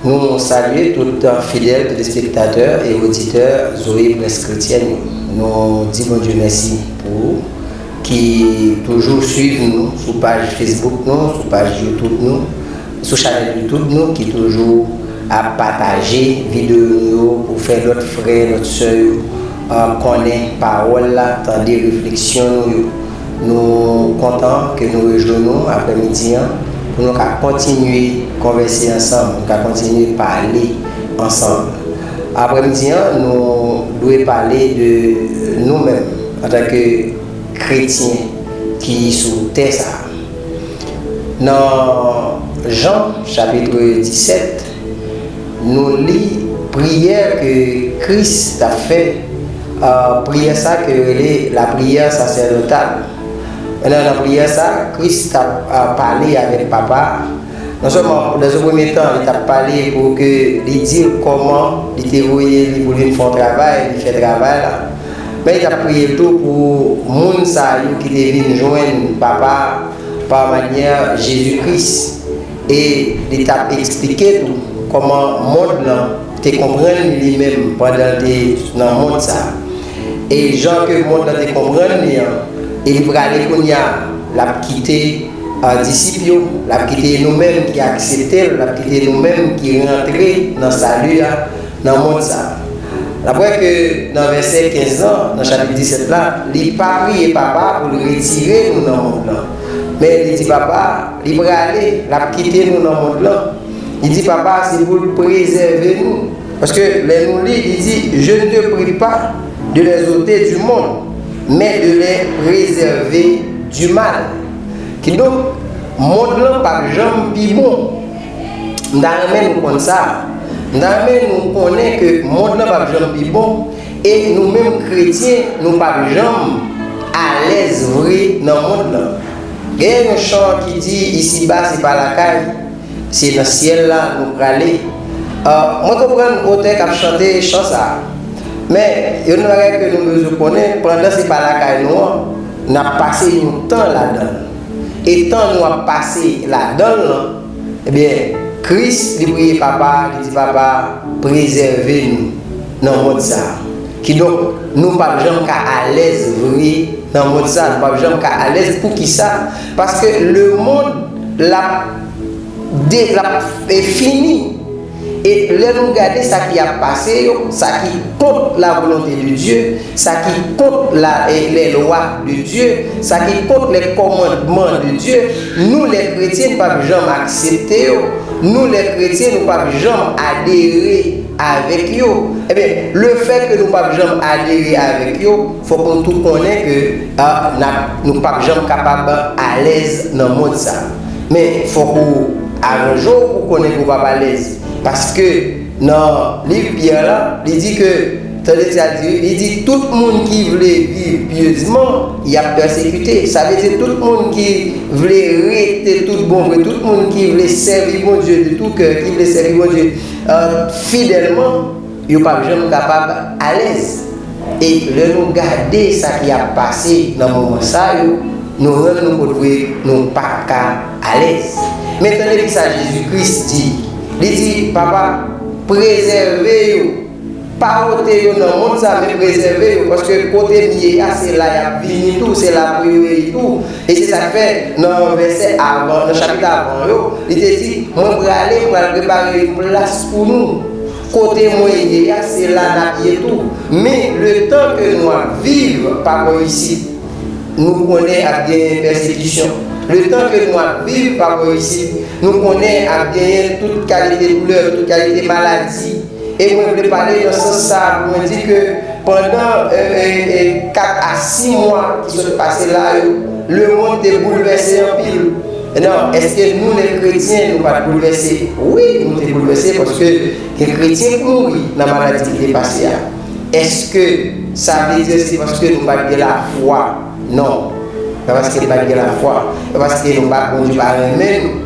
Nou salye tout an fidèl telespektatè e oditè Zoe Presse Chrétienne yo. Nou di bon Dieu mèsi pou ou ki toujou swiv nou sou paj Facebook nou, sou paj YouTube nou. Sou chanel YouTube nou ki toujou ap pataje video nou yo pou fè lòt frè, lòt sè yo konnen pawòl la, tande refleksyon nou yo. Nou kontan ke nou rejwenn nou aprè midi an pou nou ka kontinye konvèse ansanm, nou ka kontinye pale ansanm. Aprè midi an nou dwe pale de nou menm antanke kretyen ki sou tè sa a. Nan Jan chapitre 17, nou li priyè ke Kris t ap fè, priyè sa ke yo rele lapriyè sasèdotal. Nan lapriyè sa, Kris t ap pale avèk Papa a. Non sèlman, nan yon premye tan, li t ap pale pou ke li di l kòman li te voye li pou l vin fè yon travay, li fè travay la. Men y ap priye tou pou moun sa yo ki te vin jwenn Papa a pa manyè Jezi Kris, e li t ap esplike tou kòman mond lan te konprann li li menm pandan l te nan mond sa a, e jan ke mond lan te konprann li an, e li prale kounye a, l ap kite disip yo, l ap kite nou menm ki aksepte l, l ap kite nou menm ki rantre nan Sali a. nan mond sa. N ap wè ke nan vèsè 15 lan, nan chapit 17 la, li pa priye Papa a pou l retire nou nan mond lan. Men, li di Papa a, li prale, l ap kite nou nan mond lan. Li di Papa a se pou l prezève nou. Paske, lè nou li, li di, Je ne te prie pas de les ôter du monde, mais de les préserver du mal. Kidonk, mond lan p ap janm pi bon. M ta renmen nou konn sa. M ta renmen nou konnen ke mond lan pap janm pi bon e nou menm kretyen nou pap janm alèz vre nan mond lan. Genyen yon chan ki di isi ba se pa lakay, se nan syèl la nou prale. Mwen konprann otè kap chante chan sa. Men, yon nan bagay ke nou bezwen konnen, pandan se pa lakay nou an, nap pase yon tan ladan l. E tan nou ap pase ladan l lan, ebyen, Kris li priye Papa a, li di Papa a, prezève nou nan mond sa a. Kidonk, nou p ap janm ka alèz vre nan mond sa a, nou p ap janm ka alèz. Poukisa? Paske lemond l ap de, l ap fini. E lè nou gade sa ki ap pase yo, sa ki kont lavolonte de Dye, sa ki kont la lèlwa de Dye, sa ki kont lè kòmandman de Dye, nou lè kretyen n pap janm aksepte yo, nou lè kretyen nou pap janm adere avèk yo. Ebyen, lefè ke nou pap janm adere avèk yo, fòk nou tou konnen ke, a, n ap, nou pap janm kapab alèz nan mond sa. Men fòk ou aranje w pou konnen ke w p ap alèz. Paske, nan liv Pyè la, li di ke, tande sa l di wi, li di, Tout moun ki vle viv pyezman, y ap pèsekite. Sa vle di tout moun ki vle rete tout bon vre, tout moun ki vle sèvi Bondye de tou kè, ki vle sèvi Bondye fidèlman, Yo pap janm kapab alèz. E lè nou gade sa ki ap pase nan moman sa yo, nou rann nou kont vre nou pa ka alèz. Men tande ki sa Jezi Kris di. Li di, Papa, prezève yo. Pa pote yo nan mond sa, men prezève yo, paske kote m ye a, se la y ap vini tou, se la pou yo ye tou. E se sa k fè, nan vèsè avan, nan chapit avan yo, li te di, Mwen prale, m pral prepare yon plas pou nou. Kote mwen ye a se la nap ye tou men le tan ke nou ap viv pa bò isit nou konnen ap genyen pèsekisyon le tan ke nou ap viv pa bò isit nou konnen ap genyen tout kalite doulè tout kalite maladi e mwen vle pale nan sans sa pou mwen di ke pandan 4 a 6 mwa ki sot pase la yo le mond te boulvèse anpil. Nan, èske nou menm kretyen nou pa t boulvèse? Wi, nou te boulvèse paske gen kretyen ki mouri nan maladi ki te pase a. Èske sa vle di se paske nou pa t gen lafwa? Non, pa paske n pa t gen lafwa, pa paske nou pa Bondye pa renmen nou.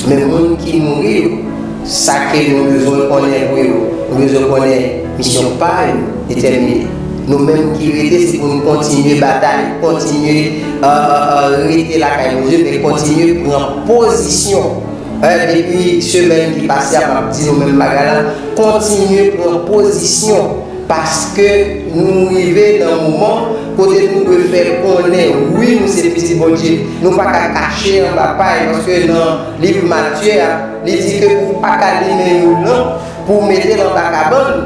Men moun ki mouri yo, sa ke nou bezwen konnen pou yo, nou bezwen konnen misyon pa yo. Detèmine. Nou menm ki rete se pou nou kontinye batay, kontinye rete lakay Bondye men kontinye pran pozisyon. Depi semèn ki pase a map di nou menm bagay la, kontinye pran pozisyon paske nou rive nan moman kote nou dwe fè konnen wi nou se pitit Bondye. Nou pa ka kache anba pay paske nan liv Matye a li di ke ou pa ka limen yon lanp pou w mete l anba kabann.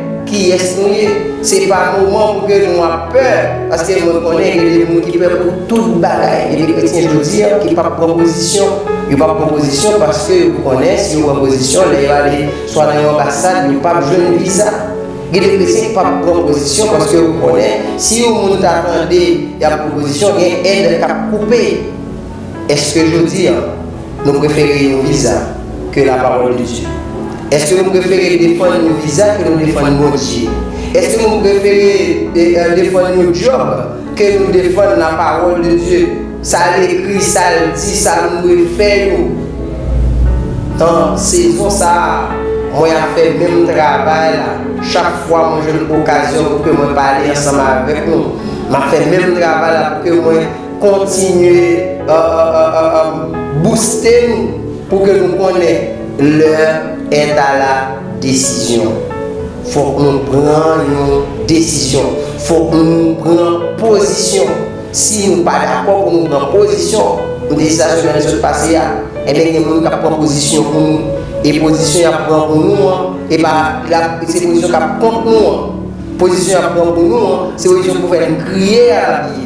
Kiyès nou ye? Se pa moman pou ke nou ap pè, paske mwen konnen gen de moun ki pè pou tout bagay. Gen de kretyen jodi a ki pap pran pozisyon. Yo pap pran pozisyon paske yo konnen si yo pran pozisyon lè yo ale swa nan yon anbasad yo pap jwenn viza. Gen de kretyen ki pap pran pozisyon paske yo konnen si yon moun ta tande yap pran pozisyon gen èd kap koupe. Eske jodi an nou prefere yon viza ke la parole de Dieu? Eske nou prefere defann yon viza ke nou defann Bondye? Eske nou prefere defann yon djòb ke nou defann la parole de Dieu, sa l ekri, sa l di, sa nou dwe fè yo? Nan sezon sa a, mwen ap fè menm travay la. Chak fwa mwen jwenn okazyon pou ke mwen pale ansanm avèk nou, m ap fè menm travay la pou ke mwen. Kontinye bouste nou pou ke nou konnen lè entala desizyon. Fok nou pran yon desizyon. Fok nou pran pozisyon. Si nou pa dakò pou nou pran pozisyon, nou te di sa semèn ki sot pase a, enben gen moun kap pran pozisyon pou nou. E pozisyon yap pran pou nou an, e pa se pozisyon kap kont nou an. Pozisyon yap pran pou nou an, se pozisyon pou fè nou kriye a lap ye.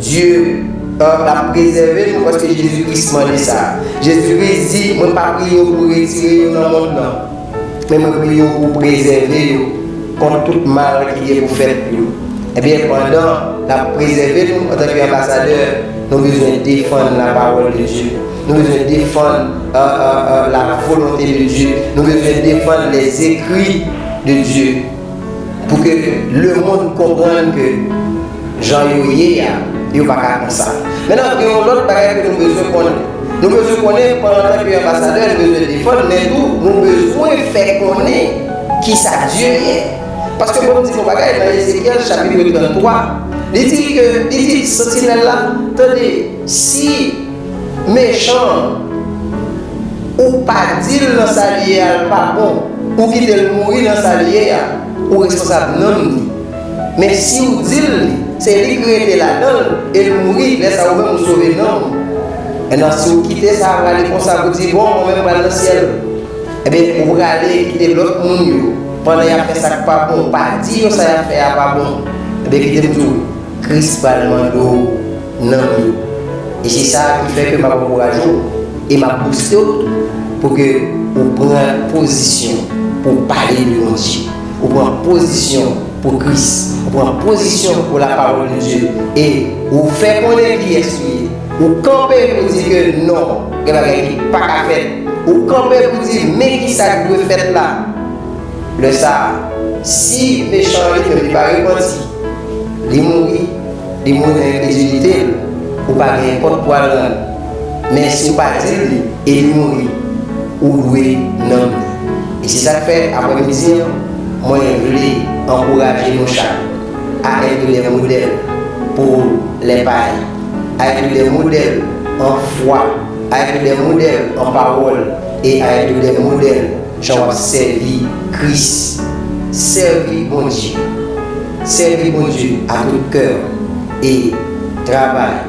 Dye an ap prezève nou paske Jezi Kris mande sa. Jezi Kris di, Mwen pa priye w pou retire yo nan mond lan, men mwen priye w pou w prezève yo kont tout mal ki gen pou fèt pou yo. Ebyen, pandan l ap prezève nou antanke anbasadè, nou bezwen defann lapawòl de Dye. Nou bezwen defann lavolonte de Dye. Nou bezwen defann lèzekri de Dye pou ke lemonn konprann ke. Jan yo ye a, yo pa ka konsa. Mennan, gen yon lòt bagay ke nou bezwen konnen. Nou bezwen konnen, an tan ke anbasadè, nou bezwen defann, men tou, nou bezwen fè konnen ki sa Dye ye. Paske bon m di nou yon bagay, nan Ezekyèl chapitre 33, li di ke, li di santinèl la, Tande, si mechan an, ou pa di l nan sa li ye a l pa bon, ou kite l mouri nan sa li ye a, ou responsab nanm li. Men siw dil li se lik rete ladanl el mouri lè sa ou menm ou sove nanm ou Nan siw kite sa prale konsa pou di bon mwen menm pral nan syèl Ebyen ou prale kite lòt moun yo pandan yap fè sak pa bon ou pa di yo sa yap fè a pa bon Ebyen kitem diw Kris pral mande w nanm yo e se sa ki fè ke map ankouraje w e map bouste w tou pou ke ou pran pozisyon pou pale de Bondye. Ou pran pozisyon pou Kris. Ou pran pozisyon pou lapawòl de Dye. E ou fè konnen kiyès ou ye. Ou kanpe pou di ke non, gen bagay ki pa ka fèt. Ou kanpe pou di men kisa k dwe fèt la. Lè sa a, si mechan an li menm li pa repanti, li mouri, li mouri nan enkredilite l, ou pa gen kont pou al rann. men si w pa di l li e li mouri, ou dwe nanm li. E se sa k fè, aprèmidi an, mwen vle ankouraje nou chak a èt de modèl pou lè pari, a èt de modèl an fwa, a èt de modèl an pawòl e a èt de modèl jan w ap sèvi Kris. Sèvi Bondye. Sèvi Bondye a tout kè w e travay.